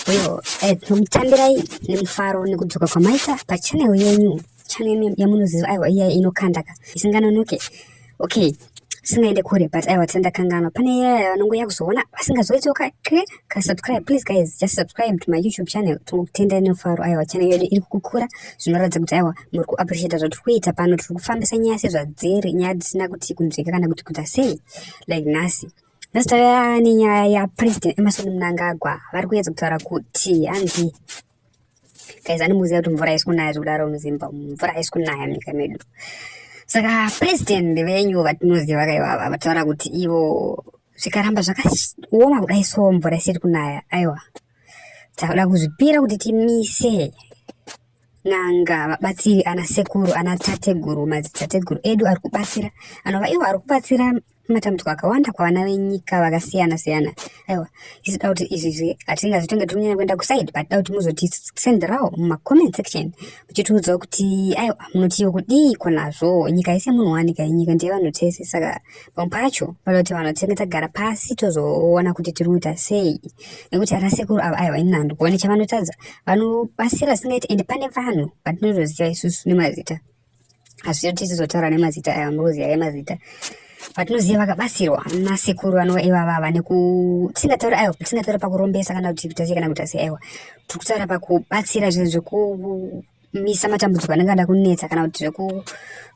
uyo eh, tinomutambirai nemufaro nekudzoka kwamaita pachanel yenyu chanel yamunoziva aiwa iya inokandaka isinganonoke okay singaende kure but aiwa tisandakanganwa pane yaya vanongoya kuzoona vasingazoitsoka ke ka subscribe please guys just subscribe to my youtube channel tinokutenda inofaro aiwa channel yedu iri kukura zvinoratidza kuti aiwa muri kuappreciata zvatiri kuita pano tiri kufambisa nyaya sezvadziri nyaya dzisina kuti kunzvika kana kuti kuita sei like nhasi nhasi tauya nenyaya yapresident emerson mnangagwa vari kuyedza kutaura kuti hanzi guys andimuziva kuti mvura haisi kunaya zvekudaro muzimba mvura haisi kunaya munyika medu saka president venyu vatinoziva kaivava vataura kuti ivo zvikaramba zvakaoma kudai so mvura isiri kunaya aiwa takuda kuzvipira kuti timise n'anga vabatsiri ana sekuru ana tateguru madzitateguru edu ari kubatsira anova iwo ari kubatsira matambudziko akawanda kwavana venyika vakasiyana siyana aiwa isu da kuti izvizvi hatingazi tonge tiri kunyanya kuenda kusaidi but da kuti muzotitsenderao mumacomment section muchitiudzawo kuti aiwa munotiwo kudiiko nazvo nyika yese munhu wanika yenyika ndiye vanhu tese saka pamwe pacho vanoda kuti vanhu tinenge tagara pasi tozoona kuti tiri kuita sei nekuti ana sekuru ava aiwa ini handikuone chavanotadza vanobatsira singaiti ende pane vanhu vatinotoziva isusu nemazita asi tichizotaura nemazita aya mbuzi aya mazita vatinoziva vakabatsirwa nasekuru vanova ivava vane kutisingatauri aiwa tisingataura pakurombesa kana kuti kutasi kana kutasi aiwa tiri kutaura pakubatsira zvinhu zvekumisa matambudziko anenge ada kunetsa kana kuti zveku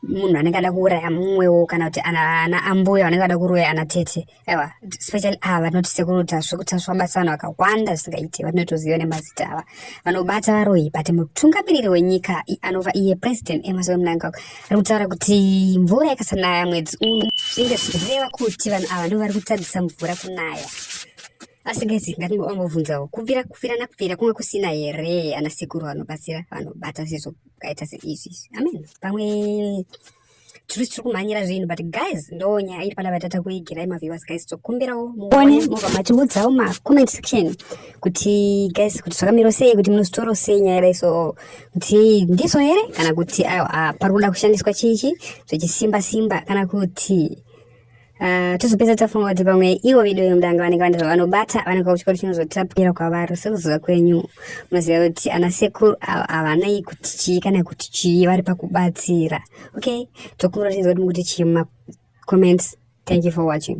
munhu anenge ada kuuraya mumwewo kana kuti ana ambuya vanenge vada kuroya ana tete ewa especially ava vanoti sekuru tasvu kutasvu vabata vanhu vakawanda zvisingaite vatinotoziva nemazita ava vanobata varoyi but mutungamiriri wenyika anova iye president emerson eh, mnangagwa ari kutaura kuti mvura yakasanaya mwedzi uno zvinge zvichireva kuti vanhu ava ndo vari kutadzisa mvura kunaya asi gezi ngatingobvunzawo kubvira kubvira nakubvira kunge kusina here ana sekuru vanobatsira vanobata sezvo kaita seizvi amen pamwe chiri chiri kumhanyira zvinhu but guys ndo nyaya iri panapa tata kuigirai maviewers guys tokumbirawo muone mobva matiudzawo macomment section kuti guys kuti zvakamiro sei kuti munozvitoro sei nyaya yadai so kuti ndizvo here kana kuti aiwa ah, pari kuda kushandiswa chichi zvechisimba simba kana kuti Ah, tozopedza tafunga kuti pamwe ivo vedu vemudanga vanenge vane zvavanobata vanenge vauchikoti chinozotapukira kwavari sekuziva kwenyu munoziva kuti ana sekuru ava havanei kuti chii kana kuti chii vari pakubatsira okay tokumbira tinzwa kuti mukuti chii mumacomments thank you for watching